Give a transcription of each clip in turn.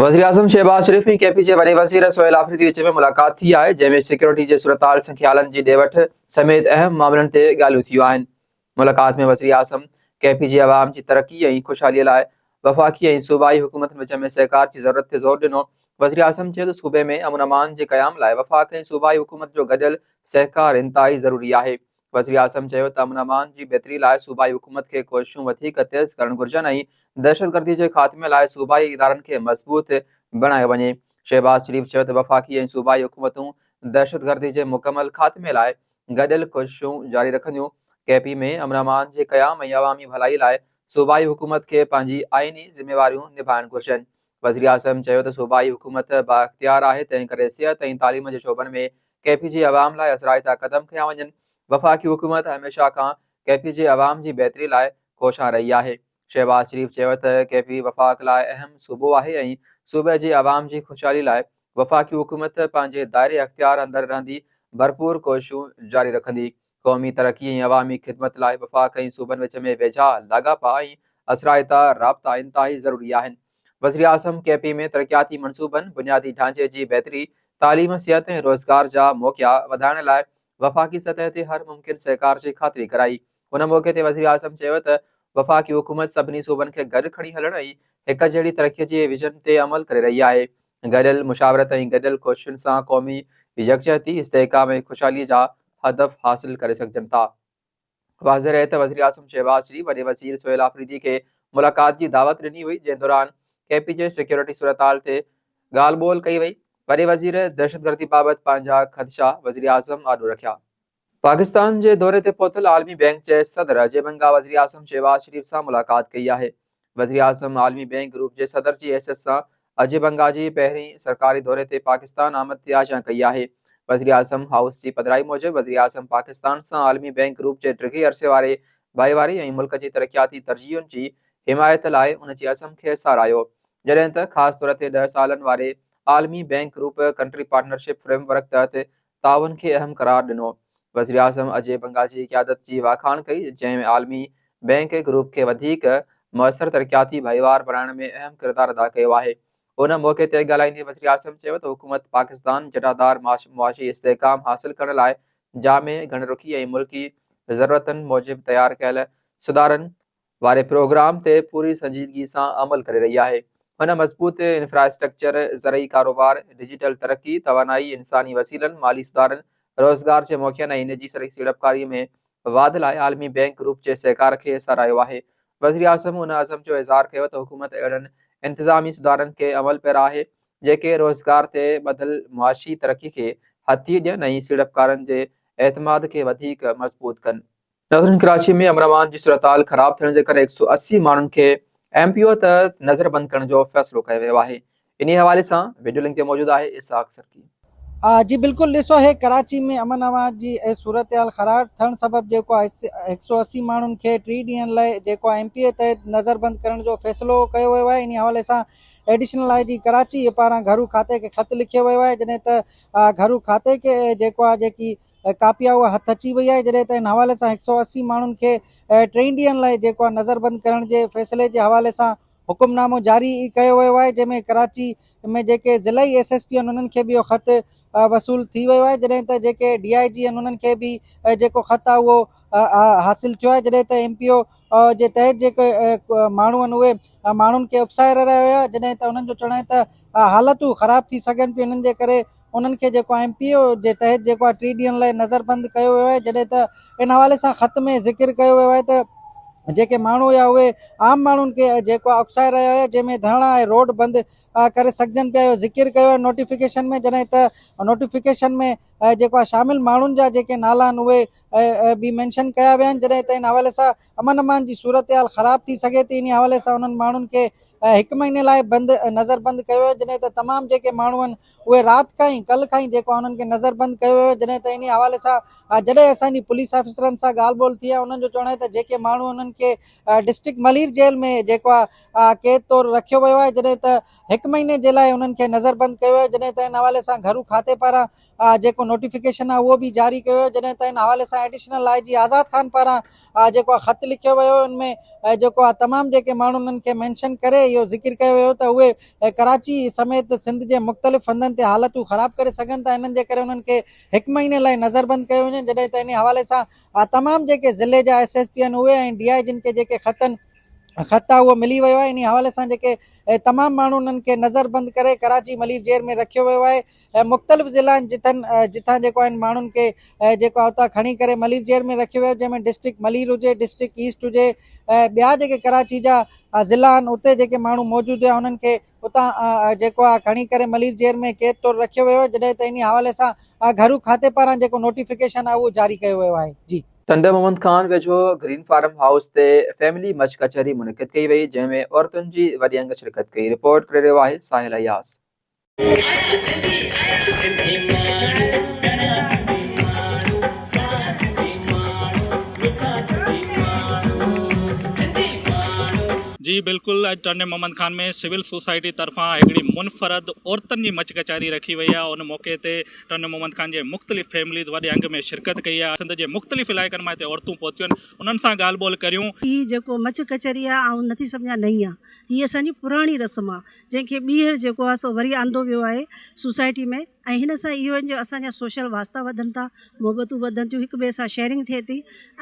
وزيراعظم Shahbaz Sharif ۽ K P جي وڏي وزير سهيل آفريدي وچ ۾ ملاقات ٿي آهي، جنهن ۾ سيڪيورٽي جي صورتحال، سنکيالن جي ڏي وٺ سميت اهم معاملن تي ڳالهيون ٿيون آهن. ملاقات ۾ وزيراعظم ڪي پي جي عوام جي ترقي ۽ خوشحالي لاء وفاقي ۽ صوبائي حڪومتن وچ ۾ سهڪار جي ضرورت تي زور ڏنو. وزيراعظم چيو ته صوبي ۾ امن امان جي قيام لاء وفاق ۽ صوبائي حڪومت جو گڏيل سهڪار انتهائي ضروري آهي، وزيراعظم چيو ته امن امان جي بهتري لاء صوبائي حڪومت کي ڪوششون وڌيڪ تيز ڪرڻ گهرجن ۽ دهشتگردي جي خاتمي لاء صوبائي ادارن کي مضبوط بڻايو وڃي. شهباز شريف چيو ته وفاقي ۽ صوبائي حڪومتون دهشتگردي جي مڪمل خاتمي لاء گڏيل ڪوششون جاري رکنديون، ڪي پي ۾ امن امان جي قيام ۽ عوامي ڀلائي لاء صوبائي حڪومت کي پنهنجي آئيني ذميواريون نڀائڻ گهرجن، وزيراعظم چيو ته صوبائي حڪومت بااختيار آهي، تنهنڪري صحت ۽ تعليم جي شعبن ۾ ڪي پي جي عوام لاء اثرائتا قدم کنيا وڃن، وفاقي حڪومت هميشه کان ڪي پي جي عوام جي بهتري لاء ڪوشان رهي آهي. شهباز شريف چيو ته ڪي پي وفاق لاء اهم صوبو آهي ۽ صوبي جي عوام جي خوشحالي لاء وفاقي حڪومت پنهنجي دائري اختيار اندر رهندي ڀرپور ڪوششون جاري رکندي، قومي ترقي ۽ عوامي خدمت لاء وفاق ۽ صوبن وچ ۾ ويجها لاڳاپا ۽ اثرائتا رابطا انتهائي ضروري آهن. وزيراعظم ڪي پي ۾ ترقياتي منصوبن، بنيادي ڍانچي جي بهتري، تعليم، صحت ۽ روزگار جا موقعا وڌائڻ لاء وفاقي سطح تي هر ممڪن سهڪار جي خاطري ڪرائي. ان موقعي تي وزيراعظم چيو ته وفاقي حڪومت سڀني صوبن کي گڏ کڻي هلڻ ۽ هڪجهڙي ترقي جي ويزن تي عمل ڪري رهي آهي. گڏيل مشاورت ۽ گڏيل ڪوششن سان قومي يڪجهتي، استحڪام ۽ خوشحالي جا هدف حاصل ڪري سگهجن ٿا. واضح رهي ته وزيراعظم شهباز شريف وڏي وزير سهيل آفريدي کي ملاقات جي دعوت ڏني هئي جنهن دوران ڪي پي جي سيڪيورٽي صورتحال تي ڳالهه ٻولهه ڪئي وئي. وڏي وزير دهشتگردي بابت پنهنجا خدشا وزيراعظم آڏو رکيا. پاڪستان جي دوري تي پهتل عالمي بينڪ جي صدر اجي بنگا وزيراعظم شهباز شريف سان ملاقات ڪئي آهي. وزيراعظم عالمي بينڪ گروپ جي صدر جي حيثيت سان اجي بنگا جي پهرين سرڪاري دوري تي پاڪستان آمد تي آجيان ڪئي آهي. وزيراعظم هائوس جي پڌرائي موجب وزيراعظم پاڪستان سان عالمي بينڪ گروپ جي ڊگهي عرصي واري ڀائيواري ۽ ملڪ جي ترقياتي ترجيحن جي حمايت لاء ان جي عزم کي ساراهيو جڏهن ته خاص طور تي ڏهه سالن واري عالمي bank group country partnership framework تحت تعاون کي اهم قرار ڏنو. وزيراعظم اجي بنگا جي قيادت جي واکاڻ ڪئي، جنهن ۾ عالمي بئنڪ گروپ کي وڌيڪ موثر ترقياتي ڀائيوار بڻائڻ ۾ اهم ڪردار ادا ڪيو آهي. ان موقعي تي ڳالهائيندي وزيراعظم چيو ته حڪومت پاڪستان جٽادار معاشي استحڪام حاصل ڪرڻ لاء جامع، گهڻ رخي ۽ ملڪي ضرورتن موجب تيار ڪيل سڌارن، واري پروگرام تي پوري سنجيدگي سان عمل ڪري رهي آهي. هن مضبوط انفراسٽرڪچر، زرعي ڪاروبار، ڊجيٽل ترقي، توانائي، انساني وسيلن، مالي سڌارن، روزگار جي موقعن ۽ نجي سيڙپڪاري ۾ واڌ لاء عالمي بينڪ گروپ جي سهڪار کي ساراهيو آهي. وزيراعظم ان عزم جو اظهار ڪيو ته حڪومت اهڙن انتظامي سڌارن کي عمل پيرا آهي، جيڪي روزگار تي ٻڌل معاشي ترقي کي هٿي ڏين ۽ سيڙپڪارن جي اعتماد کي وڌيڪ مضبوط ڪن. نظرين ڪراچي ۾ امن امان جي صورتحال خراب ٿيڻ جي ڪري هڪ سؤ اسي ماڻهن کي ايم پي او تحت نظر بند ڪرڻ جو فيصلو ڪيو ويو آهي انهي حوالي سان وڊيو لنڪ تي موجود آهي اسحاق سرڪي. جي بلڪل ڏسو هي ڪراچي ۾ امن امان جي صورتحال خراب ٿڻ سبب جيڪو آهي هڪ سؤ اسي ماڻهن کي ٽي ڏينهن لاء جيڪو آهي ايم پي اي تحت نظر بند ڪرڻ جو فيصلو ڪيو ويو آهي انهي حوالي سان ايڊيشنل آئي جي ڪراچي پاران گهرو کاتي کي خط لکيو ويو آهي جڏهن ته گهرو کاتي کي جيڪو آهي جيڪي ڪاپي آهي اها هٿ اچي وئي آهي جڏهن ته ان حوالي سان هڪ سؤ اسي ماڻهن کي ٽئين ڏينهن لاء جيڪو آهي نظر بند ڪرڻ جي فيصلي جي حوالي سان حڪم نامو جاري ڪيو ويو آهي جنهن ۾ ڪراچي ۾ جيڪي ضلعي ايس ايس پي آهن انهن کي به اهو خط وصول ٿي ويو آهي جڏهن ته جيڪي ڊي آء جي آهن انهن کي به جيڪو خط آهي اهو حاصل ٿيو آهي جڏهن ته ايم پي او جي تحت جيڪي ماڻهو آهن اهي ماڻهن کي اڪسائي رهيا هيا جڏهن ته انهن جو چوڻ آهي ته حالتون خراب ٿي سگهن پيون انهن جي ڪري انهن کي جيڪو ايم پي اي جي تحت جيڪو آهي ٽي ڏينهن لاء نظر بند ڪيو ويو آهي جڏهن ته ان حوالي سان خط ۾ ذڪر ڪيو ويو آهي ته جيڪي ماڻهو هيا اهي عام ماڻهن کي جيڪو آهي اڪسائي رهيا هيا جنهن ۾ ڌرڻا ۽ روڊ بند ڪري سگهجن پيا اهو ذڪر ڪيو آهي نوٽيفڪيشن ۾ جڏهن ته نوٽيفڪيشن ۾ جيڪو آهي شامل ماڻهن جا جيڪي نالا آهن اهي به مينشن ڪيا ويا آهن جڏهن ته ان حوالي سان امن امان جي صورتحال خراب ٿي سگهي ٿي انهي حوالي سان انهن ماڻهن کي هڪ مهيني لاء بند نظر بند ڪيو ويو جڏهن ته تمام جيڪي ماڻهو آهن اهي رات کان ئي ڪل کان ئي جيڪو آهي انهن کي نظر بند ڪيو ويو جڏهن ته انهي حوالي سان جڏهن اسان جي پوليس آفيسرن سان ڳالهه ٻولهه ٿي آهي انهن جو چوڻ آهي ته جيڪي ماڻهو انهن کي ڊسٽرڪٽ ملير جيل ۾ جيڪو آهي قيد طور رکيو ويو آهي جڏهن ته هڪ مهيني جي لاء انهن کي نظر بند ڪيو ويو جڏهن ته ان حوالي سان گهرو کاتي پاران جيڪو نوٽيفڪيشن آهي اهو به جاري ڪيو ويو جڏهن ته ان حوالي سان ايڊيشنل آء جي آزاد خان پاران جيڪو آهي خط لکيو ويو ان ۾ جيڪو آهي تمام جيڪي ماڻهو انهن کي مينشن ڪري اهو ذڪر ڪيو ويو ته اهي ڪراچي سميت سنڌ جي مختلف هنڌن تي حالتون خراب ڪري سگهن ٿا انهن جي ڪري انهن کي هڪ مهيني لاء نظربند ڪيو وڃي جڏهن ته ان حوالي سان تمام جيڪي ضلعي جا ايس ايس پي آهن اهي ۽ ڊي آء جن کي جيڪي خطن خط آهي اهو ملي ويو آهي ان حوالي سان جيڪي تمام ماڻهو انهن کي نظربند ڪري ڪراچي ملير جيل ۾ رکيو ويو آهي مختلف ضلعن جتن جتان جيڪو آهن ماڻهن کي جيڪو آهي اتان کڻي ڪري ملير جيل ۾ رکيو ويو جنهن ۾ ڊسٽرڪٽ ملير هجي ڊسٽرڪٽ ايسٽ هجي ۽ ٻيا جيڪي ڪراچي جا ضلع آهن اتي جيڪي ماڻهو موجود هيا انهن کي اتان جيڪو آهي کڻي ڪري ملير جيل ۾ قيد طور رکيو ويو جڏهن ته ان حوالي سان گهرو کاتي پاران جيڪو نوٽيفڪيشن آهي اهو جاري ڪيو ويو آهي جي ٽنڊو محمد خان ويجهو گرين فارم هائوس تي فيملي مچ ڪچهري منعقد ڪئي وئي جنهن ۾ عورتن جي وڏي انگ شرڪت ڪئي رپورٽ ڪري رهيو آهي ساحل اياز. جي بلڪل اڄ ٽرني محمد خان ۾ سول سوسائٽي طرفان هڪڙي منفرد عورتن جي مچ ڪچهري رکي وئي آهي ان موقعي تي ٽرني محمد خان جي مختلف فيمليز وڏي انگ ۾ شرڪت ڪئي آهي سنڌ جي مختلف علائقن مان هتي عورتون پهتيون آهن انهن سان ڳالهه ٻولهه ڪريون. هي جيڪو مچ ڪچهري آهي آئون نٿي سمجهان نئين آهي هي اسان جي پراڻي رسم آهي. جنهن کي ٻيهر جيڪو آهي سو وري آندو ويو آهي سوسائٽي ۾ ۽ هن سان اهو جو اسان جا سوشل واسطا وڌن ٿا محبتون وڌن ٿيون هڪ ٻئي سان شيئرنگ ٿئي ٿي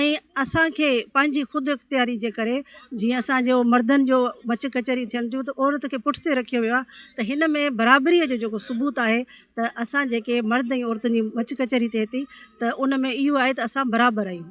۽ اسان کي پنهنجي خود اختياري جي ڪري جيئن اسان جو مردن جو مچ ڪچهري ٿين ٿيون ته عورت کي پٺتي رکيو ويو آهي ته هن ۾ برابري جو جيڪو ثبوت آهي ته اسان جيڪي مرد ۽ عورتن جي مچ ڪچهري ٿئي ٿي ته ان ۾ اهو آهي ته اسان برابر آهيون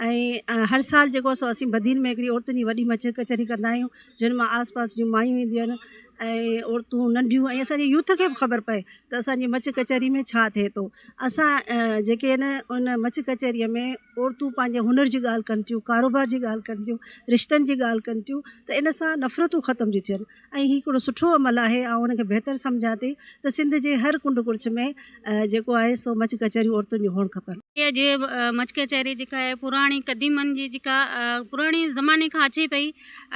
۽ هر سال جيڪو آهي سو اسين بدين ۾ هڪڙي عورتن جي وڏي مچ ڪچهري ڪندا آهيون جن مان آس پاس جون مايون اينديون آهن ۽ عورتون ننڍيون ۽ اسان جي يوٿ کي به خبر پئي ته اسان جي مچ ڪچهري ۾ ڇا ٿئي ٿو اسان جيڪي آهن ان مچ ڪچهري ۾ عورتون پنهنجي هنر جي ڳالهه ڪن ٿيون ڪاروبار جي ڳالهه ڪن ٿيون رشتن جي ڳالهه ڪن ٿيون ته ان سان نفرتون ختم ٿيون ٿين ۽ هي هڪڙو سٺو عمل آهي آئون ان کي بهتر سمجهان ٿي ته سنڌ جي هر ڪنڊ ڪڙڇ ۾ جيڪو آهي سو مچ ڪچهريون عورتن جون هئڻ کپن. اها جي مچ ڪچهري جيڪا آهي پراڻي قديمن جي جيڪا پراڻي زماني کان اچي پئي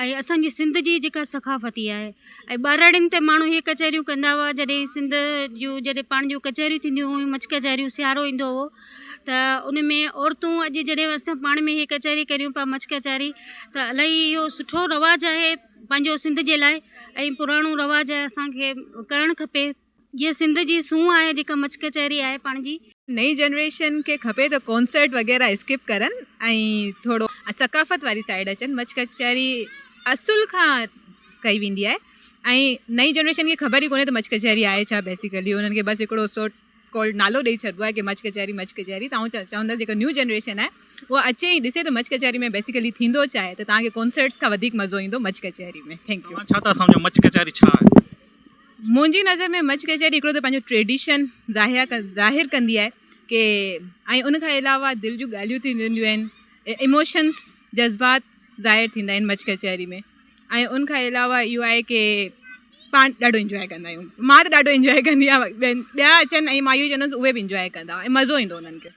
۽ اسان جي سنڌ جي جيڪا ثقافتي آهي ۽ ٻهراڙين تي ماڻهو هي ڪچهريون ڪندا هئا جڏهن سنڌ جون جڏهن پاڻ جون ڪچهريون ٿينديون هيون مچ ڪچهريون سيارو ايندو هو ته ان ۾ عورتون اڄ جڏهن اسان پاڻ ۾ هي ڪچهري ڪريون پيا مچ ڪچهري ته الاهي اهو سٺو رواج آهي پنهنجو سنڌ جي لاء ۽ پراڻو رواج آهي اسان کي ڪرڻ کپي جيئن سنڌ جي سونهن آهي جيڪا مڇ ڪچهري آهي پاڻ جي. نئين جنريشن کي کپي ته ڪونسرٽ وغيره اسڪپ ڪرن ۽ ٿورو ثقافت واري سائيڊ اچن مڇ ڪچهري اصل کان ڪئي ويندي آهي ۽ نئين جنريشن کي خبر ئي ڪونهي ته مڇ ڪچهري آهي ڇا بيسيڪلي انهن کي بس هڪڙو سوٽ ڪولڊ نالو ڏئي ڇڏبو آهي ڪي مڇ ڪچهري مڇ ڪچهري تون چوندس جيڪا نيو جنريشن آهي هو اچي ۽ ڏسي ته مڇ ڪچهري ۾ بيسيڪلي ٿيندو ڇا آهي ته توهان کي ڪونسرٽس کان وڌيڪ مزو ايندو مڇ ڪچهري ۾ ٿينڪ يو ڇا ٿا سمجهو مڇ ڪچهري ڇا آهي منهنجي نظر ۾ مڇ ڪچهري هڪڙو ته پنهنجو ٽريڊيشن ظاهر ظاهر ڪندي آهي ڪي ۽ ان کان علاوه دل جون ڳالهيون ٿينديون آهن اموشنس جذبات ظاهر ٿيندا آهن مڇ ڪچهري ۾ ۽ ان کان علاوه اهو آهي ڪي پاڻ ڏاڍو انجوائي ڪندا آهيون مان ته ڏاڍو انجوائي ڪندي آهيان ٻين ٻيا اچن ۽ مان اهو چوندس اهي به انجوائي ڪندا ۽ مزو ايندو انهن کي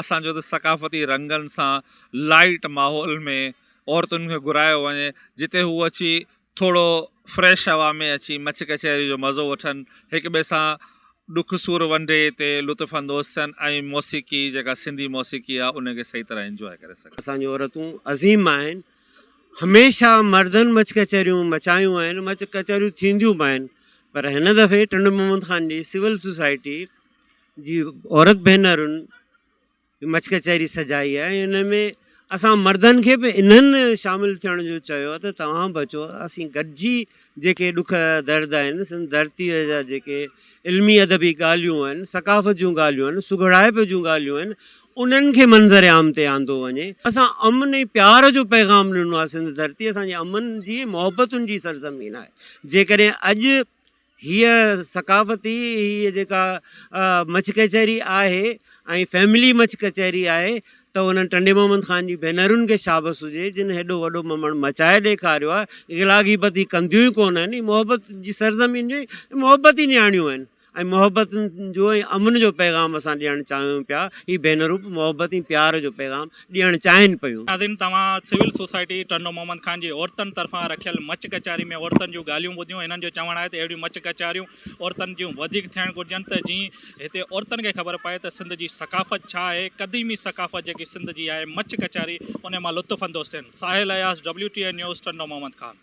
اسان جو ته ثقافتي رنگن سان لائيٽ ماحول ۾ عورتن کي گهرايو وڃي جتي هو اچي ٿورو فريش هوا ۾ اچي مچ ڪچهري جو مزو وٺن هڪ ٻئي سان ڏک سور ونڊي تي لطف اندوز ٿين ۽ موسيقي جيڪا سنڌي موسيقي آهي ان کي صحيح طرح انجواء ڪري سگهن. اسان جون عورتون عظيم آهن. هميشه مردن مچ ڪچهريون مچايون آهن، مچ ڪچهريون ٿينديون به آهن پر هن دفعي ٽنڊو محمد خان جي سول سوسائٽي جي عورت ڀينرن مچ ڪچهري سجائي آهي ۽ ان ۾ اسان مردن کي به انهن شامل ٿيڻ جو چيو ته توهان به اچو اسين گڏجي جيڪي ڏک درد آهن سندن ڌرتيء جا جيڪي علمي ادبي ڳالهيون آهن ثقافت جون ڳالهيون آهن سگهڙائپ جون ڳالهيون آهن انهن کي منظر عام تي آندو وڃي اسان امن ۽ پيار جو پيغام ڏنو آهي سنڌ ڌرتي اسان جي امن جي ۽ محبتن جي سرزمين آهي جيڪڏهن اڄ هيء ثقافتي هيء جيڪا مڇ ڪچهري آهي ۽ فيملي مڇ ڪچهري آهي ته انهن ٽنڊي محمد خان جي ڀينرن کي شابس هجي جن هيڏو وڏو ممڻ مچائي ڏيکاريو آهي غلا غيبت هي ڪنديون ئي ڪونه آهن هي محبت جي سرزمين جي محبت ئي نياڻيون آهن ۽ محبت جو ۽ امن جو پيغام اسان ڏيڻ چاهيون پيا هي ڀينرون به محبت ۽ پيار جو پيغام ڏيڻ چاهين پيون. ناظرين توهان سول سوسائٽي ٽنڊو محمد خان جي عورتن طرفان رکيل مچ ڪچهري ۾ عورتن جون ڳالهيون ٻڌيون انهن جو چوڻ آهي ته اهڙيون مچ ڪچهريون عورتن جون وڌيڪ ٿيڻ گهرجن ته جيئن هتي عورتن کي خبر پئي ته سنڌ جي ثقافت ڇا آهي قديمي ثقافت جيڪي سنڌ جي آهي مچ ڪچهري انهي مان لطف اندوز ٿين Sahil Ayaz W T A news Tando Muhammad Khan.